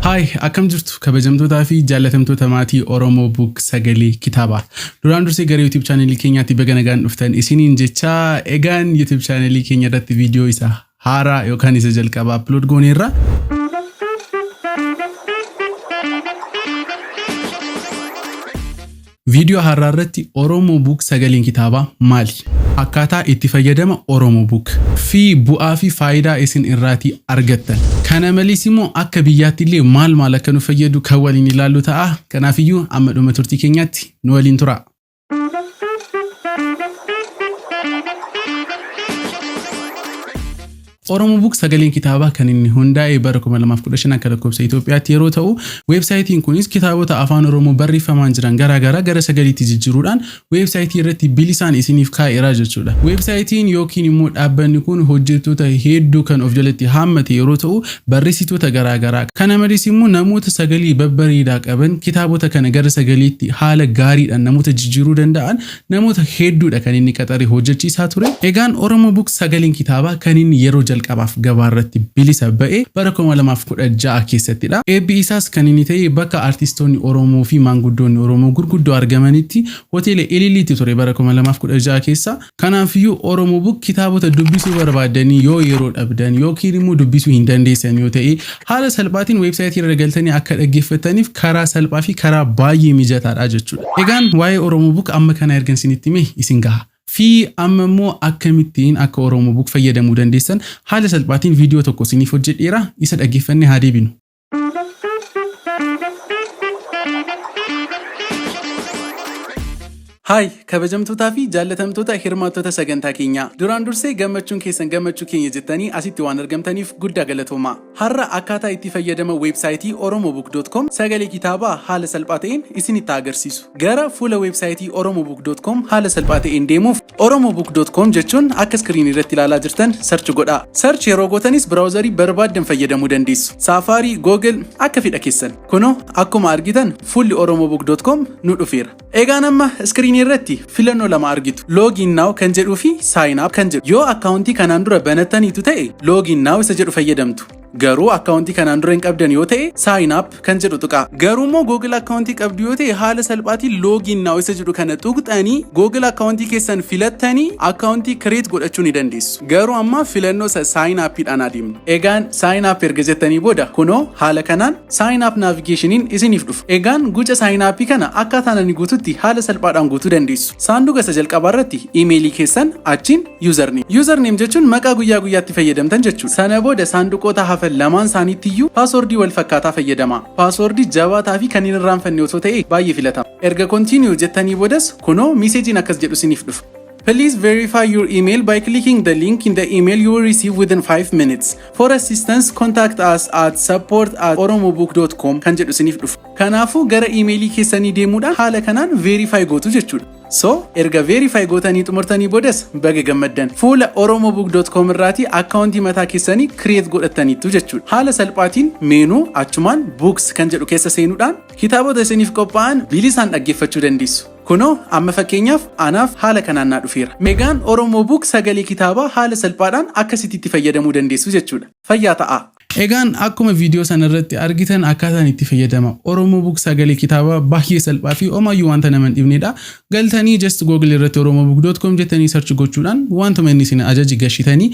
Haay akkam jirtu kabajamtootaa fi jaallatamtoota maatii Oromoo Book Sagalee Kitaabaa. Duraan dursee gara YouTube chaanelii keenyaatti baga nagaan dhuftan isiniin jechaa egaan YouTube chaanelii keenya irratti viidiyoo isa haaraa yookaan isa jalqabaa upload gooneerra. Viidiyoo har'aa irratti Oromo Book sagaleen kitaabaa maali? Akkaataa itti fayyadama Oromo Book. Fi bu'aa fi faayidaa isin irraatii argattan. Kana malees immoo akka biyyaatti illee maal maal akka nu fayyadu kan waliin ilaallu ta'a. Kanaaf iyyuu amma dhuma turtii keenyaatti nu waliin turaa. Oromobook Sagaleen Kitaabaa kan inni hundaa'e bara 2015 akka lakkoofsa Itoophiyaatti yeroo ta'u, weebsaayitiin kunis kitaabota Afaan Oromoo barreeffamaan jiran garaa garaa gara sagaliitti jijjiiruudhaan weebsaayitii irratti bilisaan isiniif kaa'eera jechuudha. Weebsaayitiin yookiin immoo dhaabbanni kun hojjettoota hedduu kan of jalatti haammate yeroo ta'u, barreessitoota garaa garaa, kana malees immoo namoota sagalee babbareedaa qaban kitaabota kana gara sagaleetti haala gaariidhaan namoota jijjiiruu danda'an Namoota hedduudha kan inni qaxaree hojjechiisaa ture. Egaan Oromo Book Sagaleen Kitaabaa kan inni yeroo jalqabaaf gabaarratti bilisa ba'e bara 2016 keessattidha. Eebbi isaas kan inni ta'e bakka artistoonni Oromoo fi maanguddoonni Oromoo gurguddoo argamanitti Hoteela Ililliitti ture bara 2016 keessa. Kanaafiyyuu Oromo Book kitaabota dubbisuu barbaaddanii yoo yeroo dhabdan yookiin immoo dubbisuu hin dandeessan yoo ta'e Haala salphaatiin website irra galtanii akka dhaggeeffattaniif karaa salphaa fi karaa baay'ee mijataadha jechuudha. Egaan waa'ee Oromobook amma kana ergan isinitti hime isin gaha. Fi amma immoo akkamittiin akka Oromobook fayyadamuu dandeessan haala salphaatiin viidiyoo tokko isiniif hojjedheera. Isa dhaggeeffannee haa deebinu. Hi! Kabajamtootaa fi jaallatamtoota hirmaattota sagantaa keenyaa. Duraan dursee gammachuun keessan gammachuu keenya jettanii asitti waan argamtaniif guddaa galatoomaa. Har'a akkaataa itti fayyadama weebsaayitii oromobook.com sagalee kitaabaa haala salphaa ta'een isinitti haa agarsiisu. Gara fuula weebsaayitii oromobook.com haala salphaa ta'een deemuuf oromobook.com jechuun akka iskiriinii irratti ilaalaa jirtan sarchi godhaa. Sarchi yeroo gootanis biraawuzarii barbaaddan fayyadamuu dandeessu. Saafaarii, Google akka fedha keessan. Kunoo akkuma argitan fuulli oromobook.com nu dhufeera. Egaan amma iskiriinii irratti filannoo lama argitu. Login now kan jedhuu fi sign up kan jedhu. Yoo akkaawuntii kanaan dura banattaniitu ta'e login now isa jedhu fayyadamtu. Garuu akkaawuntii kanaan dura hin qabdan yoo ta'e sign up kan jedhu tuqaa. Garuu immoo Google akkaawuntii qabdu yoo ta'e haala salphaatiin login now isa jedhu kana tuqxanii Google akkaawuntii keessan filattanii akkaawuntii create godhachuu ni dandeessu. Garuu amma filannoo isa sign up dhaan adeemna. Egaan sign up erga jettanii booda kunoo haala kanaan Sign up navigationiin isiniif dhufa. Egaan guca sign up kana akkaataan ani guututti haala salphaadhaan guutuu dandeessu. Saanduqa isa jalqabaa irratti imeelii keessan achiin username. Username jechuun maqaa guyyaa guyyaatti fayyadamtan jechuudha. Sana booda saanduqoota hafan lamaan isaaniitti iyyuu paaswordii wal fakkaataa fayyadamaa. Paaswordii jabaataa fi kan hin irraanfanne otoo ta'e baay'ee filatama. Erga continue jettanii boodas kunoo miiseejiin akkas jedhu isiniif dhufa. Please verify your email by clicking the link in the email you will receive within 5 minutes. For assistance, contact us at support at oromobook.com kan jedhu isiniif dhufa. Kanaafuu gara iimeelii keessanii deemuudhaan haala kanaan verify gootu jechuudha. So, erga verify gootanii xumurtanii boodas baga gammaddan. Fuula oromobook.com irraatii akkaawuntii mataa keessanii create godhattaniittu jechuudha. Haala salphaatiin meenuu achumaan books kan jedhu keessa seenuudhaan kitaabota isiniif qophaa'an bilisaan dhaggeeffachuu dandeessu. Kunoo amma fakkeenyaaf anaaf haala kanaan naa dhufeera. Megaan Oromo Book sagalee kitaabaa haala salphaadhaan akkasitti itti fayyadamuu dandeessu jechuudha. Fayyaa ta'aa! Egaan akkuma viidiyoo sana irratti argitan akkaataan itti fayyadama Oromo Book sagalee kitaabaa baay'ee salphaa fi omaayyuu wanta nama hin dhibnedha. Galtanii just google irratti oromobook.com jettanii search gochuudhaan wantuma inni isin ajaje gashitanii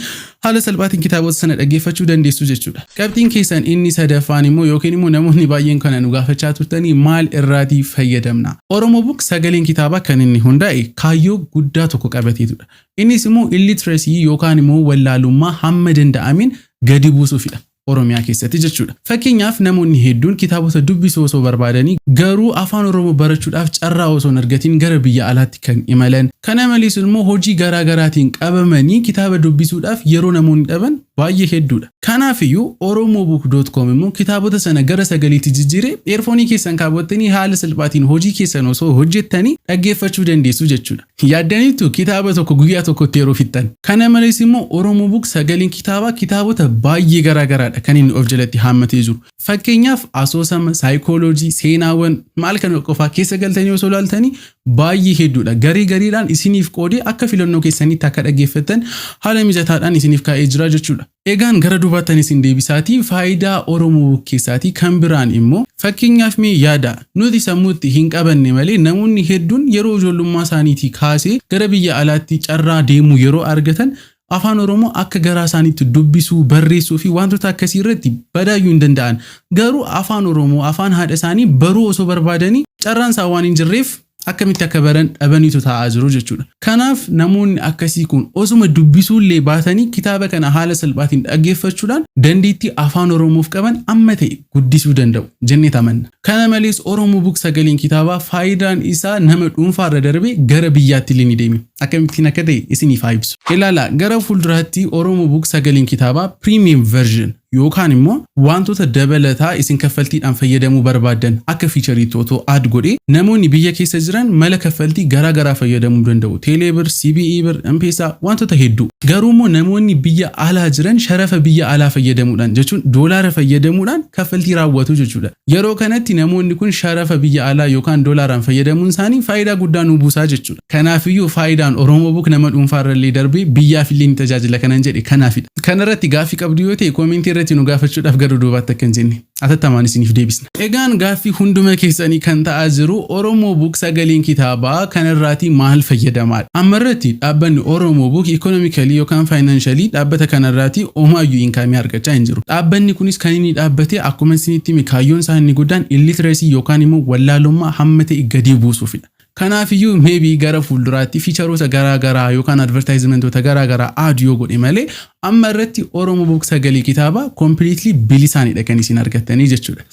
haala salphaatiin kitaabota sana dhaggeeffachuu dandeessu jechuudha. Qabxiin keessan inni sadaffaan immoo yookiin immoo namoonni baay'een kana nu gaafachaa turtanii maal irraatii fayyadamna? Oromo Book sagaleen kitaabaa kan inni hundaa'e kaayyoo guddaa tokko qabateetudha. Innis immoo illiteracy yookaan immoo wallaalummaa hamma danda'ameen gadi buusuufidha. Oromiyaa keessatti jechuudha. Fakkeenyaaf namoonni hedduun kitaabota dubbisuu osoo barbaadanii garuu afaan Oromoo barachuudhaaf carraa osoo hin argatiin gara biyya alaatti kan imalan, kana malees immoo hojii garaa garaatiin qabamanii kitaaba dubbisuudhaaf yeroo namoonni dhaban baay'ee hedduudha. Kanaafiyyuu Oromobook dot com immoo kitaabota sana gara sagaleetti jijjiiree eerfoonii keessan kaawwattanii haala salphaatiin hojii keessan osoo hojjettanii dhaggeeffachuu dandeessu jechuudha. Yaaddaniittu kitaaba tokko guyyaa tokkotti yeroo fixxan. Kana malees immoo Oromobook sagaleen kitaabaa kitaabota baay'ee garaa garaadha kan inni of jalatti haammatee jiru. Fakkeenyaaf asoosama, saayikooloojii, seenaawwan, maal kana qofaa keessa galtanii osoo ilaaltanii baay'ee hedduudha. Garee gareedhaan isiniif qoodee akka filannoo keessaniitti akka dhaggeeffattan haala mijataadhaan isiniif kaa'ee jira jechuudha. Egaan gara dubaattan isin deebisaatii faayidaa Oromoo bukkeessaatii kan biraan immoo fakkeenyaaf mee yaadaa nuti sammuutti hin qabanne malee namoonni hedduun yeroo ijoollummaa isaaniitii kaasee gara biyya alaatti carraa deemuu yeroo argatan Afaan Oromoo akka garaa isaaniitti dubbisuu, barreessuu fi waantota akkasii irratti badaayyuu hin danda'an. Garuu Afaan Oromoo, Afaan haadha isaanii baruu osoo barbaadanii carraan isaa waan hin jirreef akkamitti akka baran dhabaniitu taa'aa jiru jechuudha. Kanaaf namoonni akkasii kun osuma dubbisuullee baatanii kitaaba kana haala salphaatiin dhaggeeffachuudhaan dandeettii Afaan Oromoof qaban amma ta'e guddisuu danda'u jennee amanna. Kana malees Oromo Book sagaleen kitaabaa faayidaan isaa nama dhuunfaarra darbee gara biyyaatti illee ni deeme. Akkamittiin akka ta'e isiniif haa ibsu. Ilaalaa, gara fuulduraatti Oromo Book sagaleen kitaabaa Premium Version yookaan immoo waantota dabalataa isin kaffaltiidhaan fayyadamuu barbaaddan akka fiichariitti otoo add godhee namoonni biyya keessa jiran mala kaffaltii garaa garaa fayyadamuu danda'u. Teeleebir, CBE bir, M-Pesa waantota hedduu. Garuu immoo namoonni biyya alaa jiran sharafa biyya alaa fayyadamuudhaan jechuun doolaara fayyadamuudhaan kaffaltii raawwatu jechuudha. Yeroo kanatti namoonni kun sharafa biyya alaa yookaan doolaaraan fayyadamuun isaanii faayidaa guddaa nuu buusaa jechuudha. Kanaafiyyuu faayidaan Oromobook nama dhuunfaa irrallee darbee biyyaafillee ni tajaajila kanan jedhe kanaafidha. Kanarratti gaaffii qabdu yoo ta'e koomentii irratti nu gaafachuudhaaf gara duubaatti akka hin jenne atattamaan isiniif deebisna. Egaan gaaffii hunduma keessanii kan ta'aa jiru Oromobook sagaleen kitaabaa kanarraatii maal fayyadamaadha? Ammarratti dhaabbanni Oromobook economically yookaan financially dhaabbata kanarraatii omaayyuu income argachaa hin jiru. Dhaabbanni kunis kan inni dhaabbate akkuman isinitti hime kaayyoon isaa inni guddaan illiteracy yookaan immoo wallaalummaa hamma ta'e gadii buusuufidha. Kanaafiyyuu maybe gara fuulduraatti fiicharoota garaa garaa yookaan advertisementoota garaa garaa aad yoo godhe malee amma irratti Oromo Book sagalee kitaabaa completely bilisaanidha kan isin argattanii jechuudha.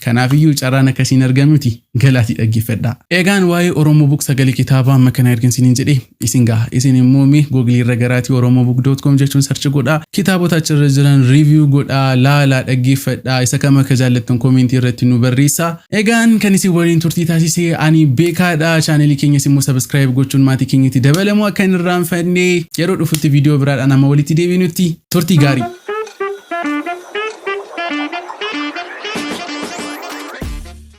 Kanaafiyyuu carraan akka isin argamuti galaatii dhaggeeffadhaa. Egaan waa'ee Oromo Book sagalee kitaabaa amma kana ergan isiniin jedhee isin gaha. Isin immoo mee Google irra garaatii oromobook.com jechuun search godhaa. Kitaabota achirra jiran review godhaa, laalaa, dhaggeeffadhaa. Isa kam akka jaallattan comment irratti nu barreessaa. Egaan kan isin waliin turtii taasise ani beekaadha. Chaanelii keenyas immoo subscribe gochuun maatii keenyatti dabalamuu akka hin irraanfanne yeroo dhufutti viidiyoo biraadhaan amma walitti deebinutti turtii gaarii.